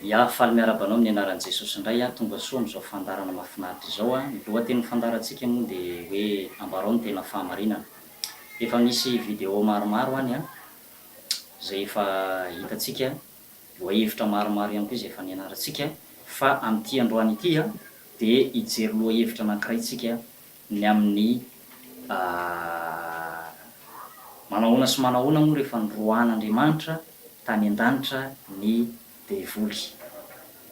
Ya, faly miarahaba anao amin'ny anaran'i Jesosy indray aho, tonga soa amin'izao fandaharana mahafinaritra izao aho. Ny lohatenin'ny fandaharantsika moa dia hoe ambarao ny tena fahamarinana. Efa misy video maromaro any an, izay efa hitantsika, lohahevitra maromaro ihany koa izay efa nianarantsika, fa amin'ity androany ity dia hijery lohahevitra anankiray tsika ny amin'ny manahoana sy manahoana moa rehefa noroahan'Andriamanitra tany an-danitra ny devoly?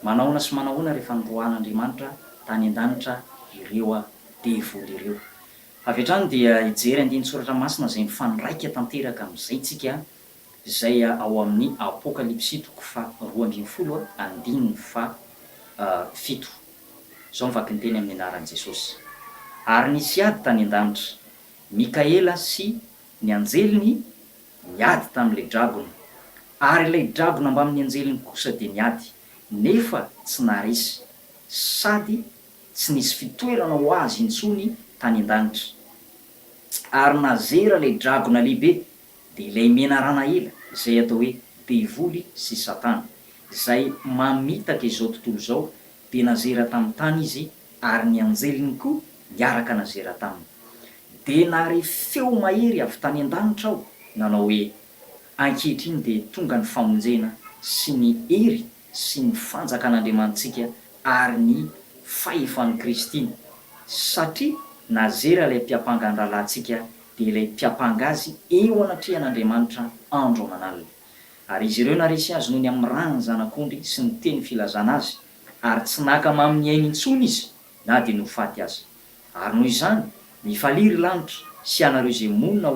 Manahoana sy manahoana rehefa noroahan'Andriamanitra tany an-danitra ireo devoly ireo? Avy hatrany dia hijery andinin-tsoratra masina izay mifandraika tanteraka amin'izay tsika Izay ao amin'ny Apokalypsy toko faha roa ambin'ny folo andininy faha fito. Izao ny vakinteny amin'ny anaran'i Jesosy. Ary nisy ady tany an-danitra. Mikaela sy ny anjeliny niady tamin'ilay dragona, ary ilay dragona mbamin'ny anjeliny kosa dia niady, nefa tsy naharesy, sady tsy nisy fitoerana ho azy intsony tany an-danitra. Ary nazera ilay dragona lehibe, dia ilay menarana ela izay atao hoe devoly sy satana izay mamitaka izao tontolo izao dia nazera tamin'ny tany izy ary ny anjeliny koa niaraka nazera taminy. Dia nahare feo mahery avy tany an-danitra aho nanao hoe, Ankehitriny dia tonga ny famonjena sy ny hery sy ny fanjakan'Andriamanitsika ary ny fahefan'i Kristy, satria nazera ilay mpiampanga ny rahalahintsika dia ilay mpiampanga azy eo anatrehan'Andriamanitra andro aman'alina. Ary izy ireo naresy azy noho ny amin'ny ran'ny Zanak'ondry sy ny teny filazana azy, ary tsy naka mamin'ny ainy intsony izy na dia nofaty aza. Ary noho izany, mifalia ry lanitra sy ianareo izay monina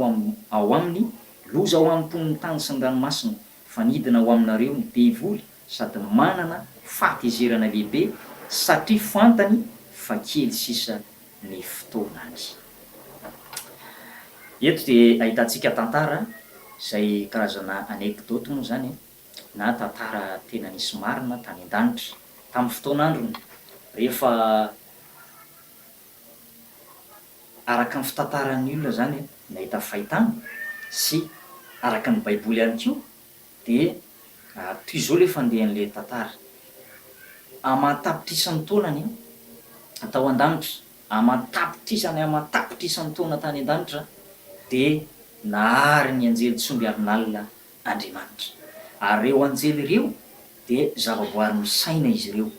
ao aminy, loza ho an'ny mponin'ny tany sy ny ranomasina, fa nidina ho aminareo ny devoly sady manana fahatezerana lehibe satria fantany fa kely sisa ny fotoanany. Eto dia ahitantsika tantara izay karazana anecdote moa izany e, na tantara tena nisy marina tany an-danitra, tamin'ny fotoan'androny rehefa araka ny fitantaran'ny olona izany an, nahita ny fahitana sy araka ny baiboly ihany koa dia toy izao ilay fandehan'ilay tantara, aman-tapitrisany taona ny tao an-danitra, aman-tapitrisany aman-tapitrisany taona tany an-danitra dia nahary ny anjely tsongy arin'alina Andriamanitra. Ary ireo anjely ireo dia zavaboary misaina izy ireo.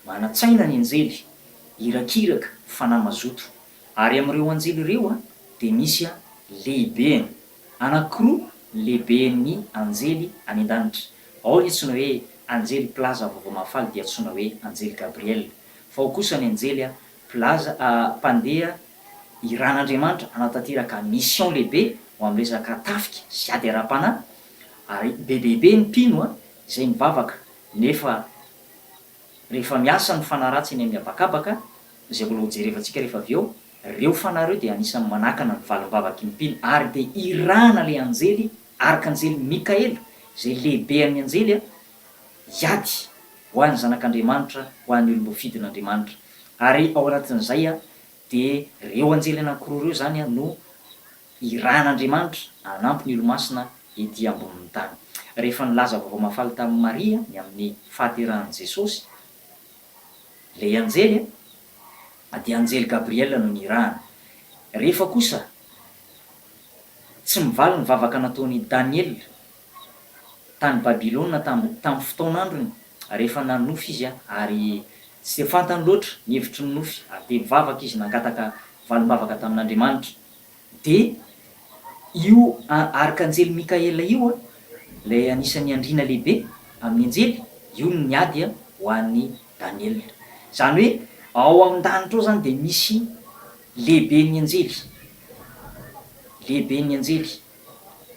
Manan-tsaina ny anjely, irakiraka, fanahy mazoto. Ary amin'ireo anjely ireo dia misy lehibeny anankiroa, lehiben'ny anjely any an-danitra. Ao ny antsoina hoe anjely mpilaza vaovao mahafaly dia antsoina hoe anjely Gabriel, fa ao kosa ny anjely mpilaza, mpandeha iran'Andriamanitra hanatanteraka mission lehibe ho amin'ny resaka tafika sy ady ara-panahy, ary bebebe ny mpino izay mivavaka nefa Rehefa miasa ny fanahy ratsy eny amin'ny habakabaka, izay mbola hojerevantsika rehefa avy eo, ireo fanahy ireo dia anisan'ny manakana ny valim-bavaky ny mpino ary dia irahana ilay anjely, Arkanjely Mikaela, izay lehibean'ny anjely, hiady ho an'ny zanak'Andriamanitra, ho an'ny olom-boa fidin'Andriamanitra. Ary ao anatin'izay dia ireo anjely anankiroa ireo izany no Hiràn' Andriamanitra hanampy ny Olomasina ety ambonin'ny tany. Rehefa nilaza vaovao mahafaly tamin'i Maria ny amin'ny fahaterahan'i Jesosy ilay anjely dia anjely Gabriela no nirahany. Rehefa kosa tsy mivaly ny vavaka nataon'i Daniela tany Babylona tamin'ny tamin'ny fotoan'androny rehefa nanonofy izy ary tsy dia fantany loatra ny hevitry ny nofy ary dia nivavaka izy nangataka valim-bavaka tamin'Andriamanitra. Dia io Arkanjely Mikaela io, ilay anisan'ny andriana lehibe amin'ny anjely, io no niady ho an'i Daniela. Izany hoe ao an-danitra ao izany dia misy lehiben'ny anjely, lehiben'ny anjely.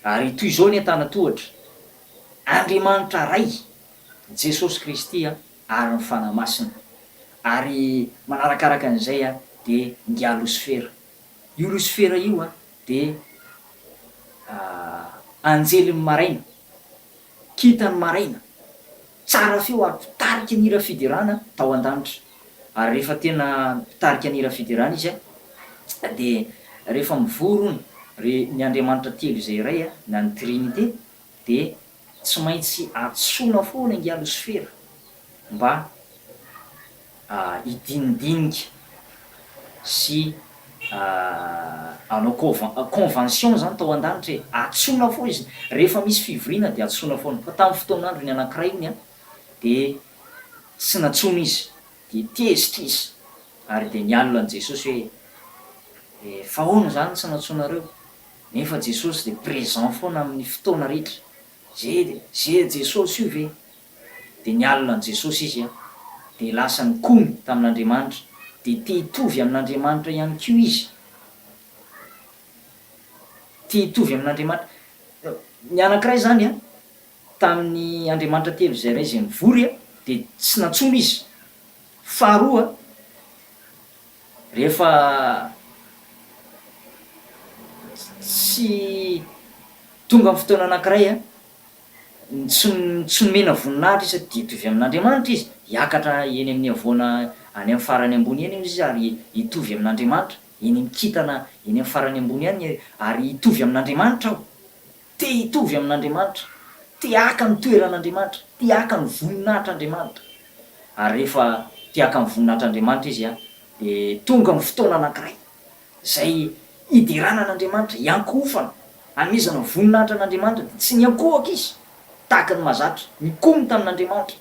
Ary toy izao ny antanan-tohatra, Andriamanitra Ray, Jesosy Kristy ary ny Fanahy Masina. Ary manarakaraka an'izay dia ngiaha losifera. Io Losifera io dia anjelin'ny maraina, kintan'ny maraina, tsara feo ary mpitarika ny hira fiderana tao an-danitra. Ary rehefa tena mpitarika ny hira fiderana izy dia rehefa mivory hono ry ny Andriamanitra telo izay iray na ny Trinite dia tsy maintsy antsoina foana ingahy Losifera mba hidinidinika sy hanao convention izany tao an-danitra e! Antsoina foana izy, rehefa misy fivoriana dia antsoina foana, fa tamin'ny fotoan'androny anankiray hono an, dia tsy nantsoina izy, dia tezitra izy, ary dia nialona an'i Jesosy hoe, fa ahoana izany tsy nantsoinareo? Nefa Jesosy dia présent foana amin'ny fotoana rehetra. Izay dia izay Jesosy io ve? Dia nialona an'i Jesosy izy an! Dia lasa nikomy tamin'Andriamanitra, dia te hitovy amin'Andriamanitra ihany koa izy. Te hitovy amin'Andriamanitra. Ny anankiray izany an, tamin'ny Andriamanitra telo izay iray izay nivory an, dia tsy nantsoina izy. Faharoa, Rehefa tsy tonga ny fotoana anankiray, tsy tsy nomena voninahitra izy sady dia hitovy amin'Andriamanitra izy, hiakatra eny amin'ny havoana any amin'ny farany ambony eny izy ary hitovy amin'Andriamanitra, eny amin'ny kintana eny amin'ny farany ambony any, ary hitovy amin'Andriamanitra aho. Te hitovy amin'Andriamanitra. Te haka ny toeran'Andriamanitra. Te haka ny voninahitr'Andriamanitra. Ary rehefa te haka ny voninahitr'Andriamanitra izy dia tonga ny fotoana anankiray izay hiderana an'Andriamanitra, hiankohofana, hanomezana ny voninahitra an'Andriamanitra dia tsy niankohoka izy tahaka ny mahazatra, nikomy tamin'Andriamanitra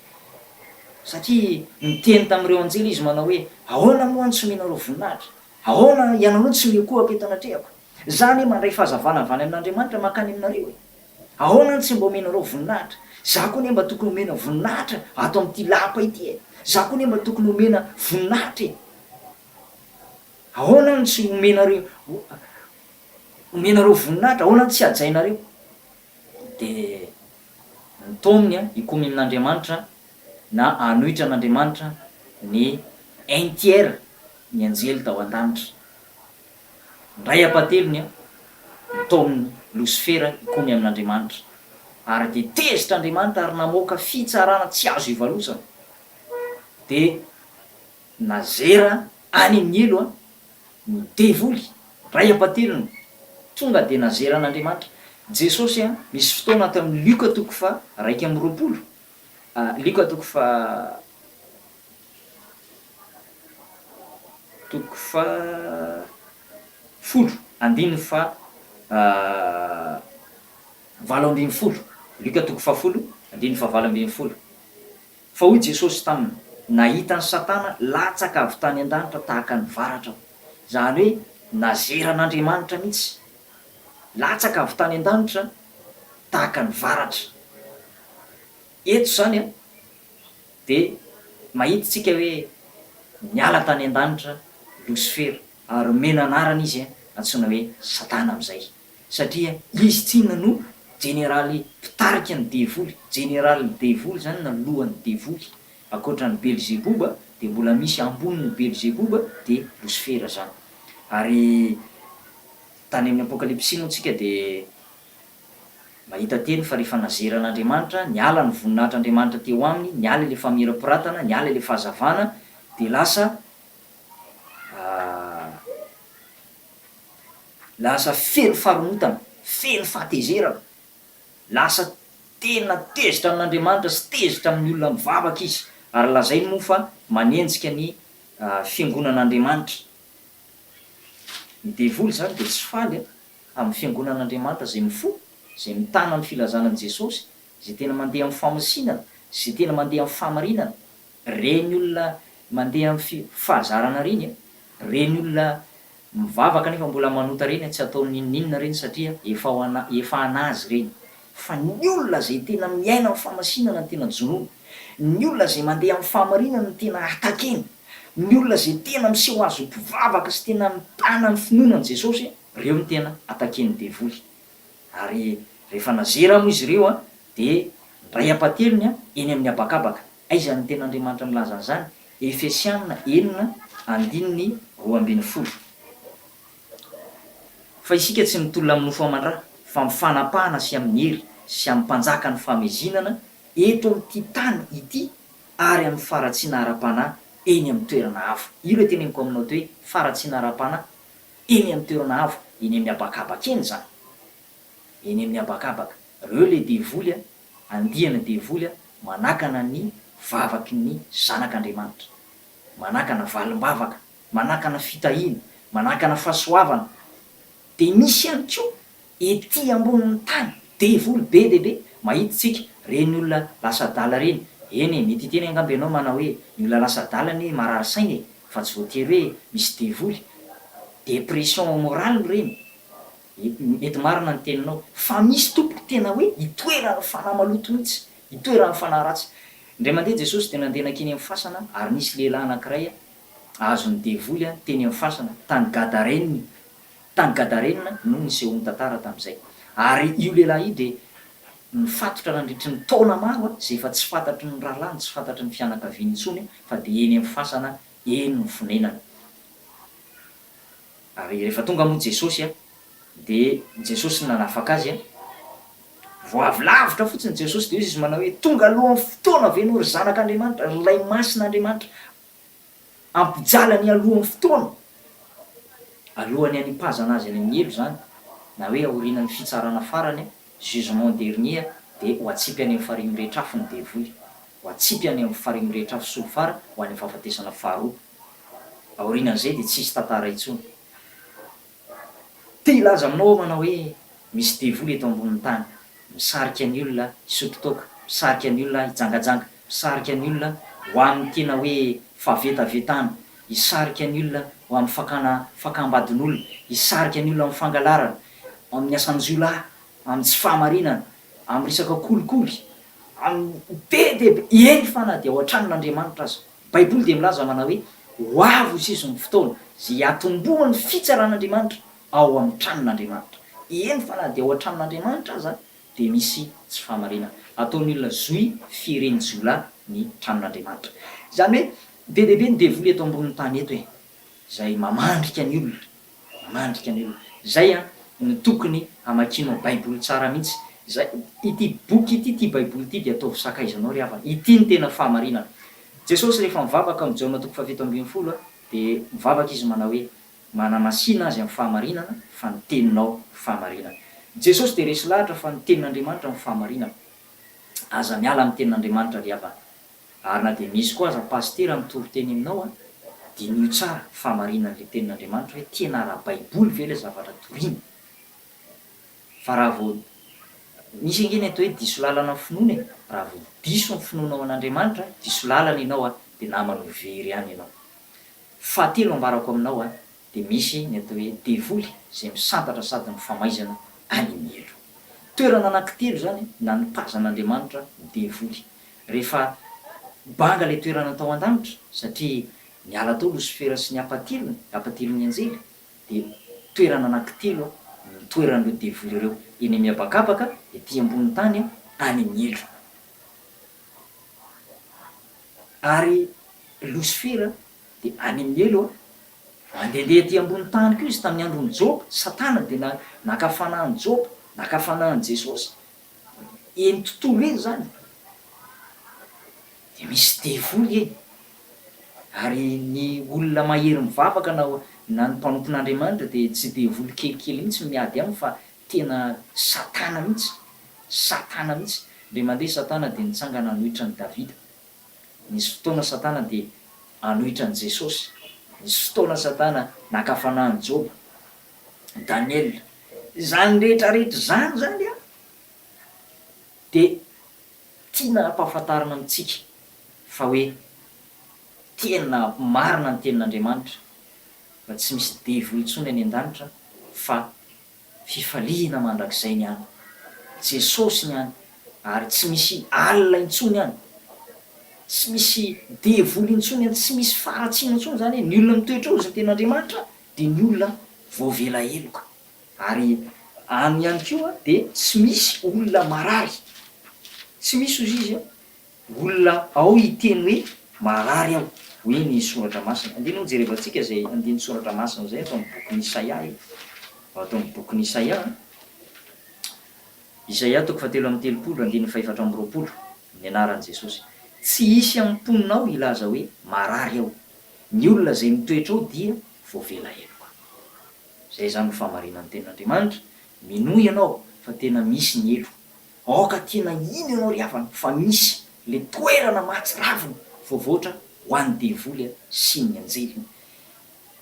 satria niteny tamin'ireo anjely izy manao hoe, Ahoana moa no tsy omenareo voninahitra? Ahoana ianareo no tsy miankohoka eto anatrehako? Za anie mandray fahazavana avy any amin'Andriamanitra mankany aminareo e! Ahoana no tsy mba omenareo voninahitra? Za koa anie mba tokony omena voninahitra ato amin'ity lapa ity e! Za koa anie mba tokony omena voninahitra e! Ahoana no tsy omenareo omenareo voninahitra? Ahoana no tsy hajainareo? Dia nitaominy hikomy amin'Andriamanitra na hanohitra an'Andriamanitra ny un tiers ny anjely tao an-danitra. Indray hampatelony an! Ntaomin'i Losifera hikomy amin'Andriamanitra, ary dia tezitra Andriamanitra ary namoaka fitsarana tsy azo ivalosana. Dia nazera any amin'ny helo an! ny devoly, indray hampatelony, tonga dia nazera an'Andriamanitra. Jesosy an! misy fotoana ato amin'ny Lioka toko faha iraika amby roapolo, Lioka toko faha. Toko fahafolo andininy fahavalo ambin'ny folo. Lioka toko fahafolo andininy fahavalo ambin'ny folo. Fa hoy Jesosy taminy, Nahita an'i Satana latsaka avy tany an-danitra tahaka ny varatra aho. Izany hoe nazera an'Andriamanitra mihitsy. Latsaka avy tany an-danitra tahaka ny varatra. Eto izany an. Dia mahita isika hoe niala tany an-danitra Losifera, ary omena anarana izy, antsoina hoe Satana amin'izay, satria izy tsinona no jeneraly mpitarika ny devoly, jeneralin'ny devoly izany na lohan'ny devoly. Ankoatra an'i Belzeboba dia mbola misy ambonin'i Belzeboba, dia Losifera izany. Ary tany amin'ny Apokalypsy moa isika dia. Mahita teny fa rehefa nazerana Andriamanitra, niala ny voninahitr' Andriamanitra teo aminy, niala ilay famirapiratana, niala ilay fahazavana, dia lasa lasa feno faharomotana, feno fahatezerana, lasa tena tezitra amin' Andriamanitra sy tezitra amin' ny olona mivavaka izy, ary lazainy moa fa manenjika ny fiangonan' Andriamanitra. Ny devoly izany dia tsy faly an! amin'ny fiangonan'Andriamanitra izay mifoha, izay mitana ny filazana an'i Jesosy, izay tena mandeha amin'ny famosinana, izay tena mandeha amin'ny fahamarinana. Ireny olona mandeha amin'ny fi, fahazarana ireny an, ireny olona mivavaka nefa mbola manota ireny an, tsy ataony n'inon'inona ireny satria efa ho ana, efa an'Azy ireny. Fa ny olona izay tena miaina amin'ny famasinana no tena jonoiny. Ny olona izay mandeha amin'ny fahamarinana no tena atakeny. Ny olona izay tena miseho azy ho mpivavaka sy tena mitana ny finoana an'i Jesosy, ireo no tena ataken'ny devoly. Ary rehefa nazera moa izy ireo dia nindray am-pateliny eny amin'ny habakabaka. Aiza ny Tenin'Andriamanitra milaza an'izany? Efesiana enina andininy roa ambin'ny folo. Fa isika tsy mitolona amin'ny nofo aman-dra, fa amin'ny fanapahana sy amin'ny hery sy amin'ny mpanjakan'ny famezinana eto amin'ity tany ity ary amin'ny faharatsiana ara-panahy eny amin'ny toerana hafa. Io ilay teneniko aminao teo hoe faharatsiana ara-panahy eny amin'ny toerana hafa, eny amin'ny habakabaka eny izany. Eny amin'ny habakabaka. Reo ilay devoly an, andiana devoly an, manakana ny vavaky ny zanak'Andriamanitra. Manakana valim-bavaka manakana fitahiana, manakana fahasoavana, dia misy ihany koa ety ambonin'ny tany, devoly be dia be, mahita isika ireny olona lasa adala ireny, eny e, mety hiteny angamba ianao manao hoe ny olona lasa adala anie marary saina e, fa tsy voatery hoe misy devoly, dépression morale ireny, mety marina ny teninao, fa misy tompoko tena hoe itoeran'ny fanahy maloto mihitsy, itoeran'ny fanahy ratsy, indray mandeha Jesosy dia nandeha nankeny amin'ny fasana ary nisy lehilahy anankiray azon'ny devoly teny amin'ny fasana, tany Gadarena, tany Gadarena no nisehoan'ny tantara tamin'izay. Ary io lehilahy io dia nifatotra nandritry ny taona maro izay efa tsy fantatry ny rahalahiny, tsy fantatry ny fianakaviany intsony fa dia eny amin'ny fasana eny no fonenany. Ary rehefa tonga moa Jesosy dia Jesosy no nanafaka azy, vao avy lavitra fotsiny Jesosy dia hoy izy manao hoe, tonga alohan'ny fotoana ve ianao ry Zanak'Andriamanitra, ry Ilay Masin'Andriamanitra? ampijalany aloha ny fotoana, alohan'ny hanipazana azy any amin'ny helo izany, na hoe aorinan'ny fitsarana farany, jugement dernier, dia ho atsipy any amin'ny farihy mirehitra afo ny devoly, ho atsipy any amin'ny farihy mirehitra afo solifara ho any amin'ny fahafatesana faharoa. Aorinan'izay dia tsy hisy tantara intsony. Te hilaza aminao aho manao hoe misy devoly eto ambonin'ny tany misarika ny olona hisotro toaka, misarika ny olona hijangajanga, misarika ny olona ho amin'ny tena hoe fahavetavetana, hisarika ny olona ho amin'ny fakana fakam-badin'olona, hisarika ny olona amin'ny fangalarana, amin'ny asan-jiolahy, amin'ny tsy fahamarinana, amin'ny resaka kolikoly, amin'ny be dia be, eny fa na dia ao an-tranon'Andriamanitra aza. Baiboly dia milaza manao hoe, Ho avy ho seso ny fotoana izay hiatombohan'ny fitsaran'Andriamanitra ao amin'ny tranon'Andriamanitra. Eny fa na dia ao an-tranon'Andriamanitra aza dia misy tsy fahamarinana. Ataon'ny olona zohy fieren'ny jiolahy ny tranon'Andriamanitra. Izany hoe be dia be ny devoly eto ambonin'ny tany eto e! izay mamandrika ny olona, mamandrika ny olona. Izay no tokony hamakianao Baiboly tsara mihitsy. Izay, ity boky ity, ity Baiboly ity dia ataovy sakaizanao ry havana. Ity no tena fahamarinana. Jesosy rehefa mivavaka amin'i Jaona toko fahafito ambin'ny folo dia mivavaka Izy manao hoe, Manamasina azy amin'ny fahamarinana, fa ny teninao fahamarinana. Jesosy dia resy lahatra fa ny tenin'Andriamanitra no fahamarinana. Aza miala amin'ny tenin'Andriamanitra ry havana. Ary na dia misy koa aza pasitera mitory teny aminao a, diniho tsara fa marina an'ilay tenin'Andriamanitra hoe tena ara-baiboly ve ilay zavatra toriana? Fa raha vao misy ange ny atao hoe diso lalana ny finoana e, raha vao diso ny finoanao an'Andriamanitra, diso lalana ianao a, dia namana ho very ihany ianao. Fahatelo ambarako aminao a, dia misy ny atao hoe devoly izay misantatra sady mifamaizana any mielo. Toerana anankitelo izany nanipazan'Andriamanitra ny devoly. Rehefa banga ilay toerana tao an-danitra satria niala tao Losifera sy ny hapatilony, hapatilon'ny anjely, dia toerana anankitelo no nitoeran'ireo devoly ireo, eny amin'ny habakabaka, ety ambonin'ny tany, any mielo. Ary Losifera Dia any amin'ny helo a. Mandehandeha aty ambony tany koa izy tamin'ny andron'i Joba. Satana dia na, naka fanahin'i Joba, naka fanahin'i Jesosy. Eny tontolo eny izany. Dia misy devoly eny. Ary ny olona mahery mivavaka na, na ny mpanompon'Andriamanitra dia tsy devoly kelikely mihitsy ny miady aminy fa tena Satana mihitsy. Satana mihitsy. Indray mandeha Satana dia nitsangana hanohitra an'i Davida. Nisy fotoana Satana dia hanohitra an'i Jesosy. Nisy fotoana Satana naka fanahy an'i Joba, Daniela. Izany rehetra rehetra izany izany an, dia tiana hampahafantarina amintsika fa hoe tena marina ny tenin'Andriamanitra fa tsy misy devoly intsony any an-danitra fa Fifaliana mandrakizay ny any. Jesosy ny any ary tsy misy alina intsony any. Tsy misy devoly intsony any, tsy misy faharatsiana intsony izany hoe ny olona mitoetra eo izay tena Andriamanitra dia ny olona voavela heloka ary any ihany koa dia tsy misy olona marary. Tsy misy hozy izy an! Olona ao hiteny hoe marary aho, hoy ny Soratra Masina. Andeha aloha jerevantsika izay andininy Soratra Masina izay ato amin'ny bokin'i Isaia e. Ato amin'ny bokin'i Isaia, Isaia toko fahatelo amby telopolo, andininy fahefatra amby roapolo, ny anaran'i Jesosy. Tsy hisy amin'ny mponina ao hilaza hoe marary aho. Ny olona izay mitoetra ao dia voavela heloka. Izay izany no fahamarinan'ny tenin'Andriamanitra. Minoa ianao fa tena misy ny heloka. Aoka tena hino ianao ry havana fa misy le toerana mahatsiravina voavoatra ho an'ny devoly sy ny anjeliny.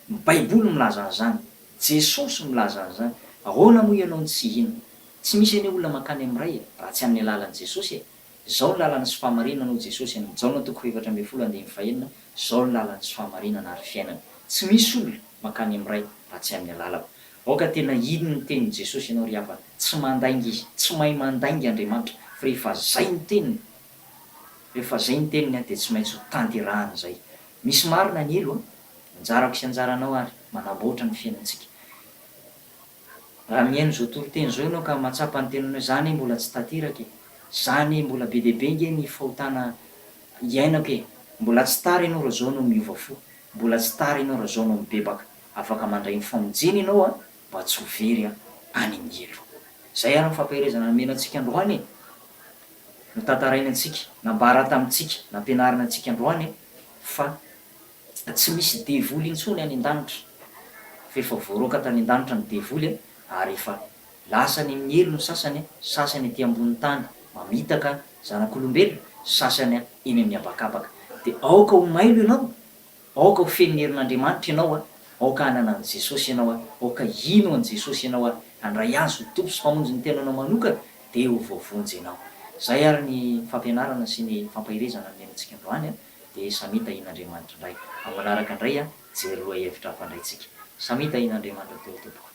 Ny baiboly milaza an'izany, Jesosy milaza an'izany, ahoana moa ianao no tsy hino. Tsy misy anie olona mankany amin'ny Ray raha tsy amin'ny alalan'i Jesosy e! Zao ny lalana sy fahamarinana hoy Jesosy any Jaona toko fahefatra ambin'ny folo andininy fahenina, zao ny lalana sy fahamarinana ary fiainana. Tsy misy olona mankany amin'ny Ray raha tsy amin'ny alalako. Aoka tena hino ny tenin'i Jesosy ianao ry havana, tsy mandainga Izy, tsy mahay mandainga Andriamanitra, fa rehefa zay ny teniny, rehefa zay ny teniny an dia tsy maintsy ho tanterahany zay. Misy marina ny helo an! Anjarako sy anjaranao ary manamboatra ny fiainantsika. Raha mihaino izao toriteny izao ianao ka mahatsapa ny tenanao hoe za anie mbola tsy tanteraka e! Za anie mbola be dia be nge ny fahotana iainako e! Mbola tsy tara ianao raha zao no miova fo, mbola tsy tara ianao raha zao no mibebaka. Afaka mandray ny famonjena ianao a, mba tsy ho very a, any angelo. Izay ary ny fampaherezana nomena antsika androany e. Notantarainy antsika, nambara tamintsika, nampianarina antsika androany e, fa tsy misy devoly intsony any an-danitra, fa efa voaroaka tany an-danitra ny devoly e, ary efa lasa any amin'ny helo ny sasany a, sasany aty ambonin'ny tany mamitaka zanak'olombelona, sasany eny amin'ny habakabaka. Dia aoka ho mailo ianao Aoka ho feno ny herin'Andriamanitra ianao a! Aoka hanana an'i Jesosy ianao a! Aoka hino an'i Jesosy ianao a! Handray Azy ho Tompo sy Mpamonjy ny tenanao manokana dia ho voavonjy ianao. Izay ary ny fampianarana sy ny fampaherezana nomenantsika androany a! Dia samia tahian'Andriamanitra indray amin'ny manaraka indray a! Jery lohahevitra hampandray antsika. Samia tahian'Andriamanitra daholo tompoko.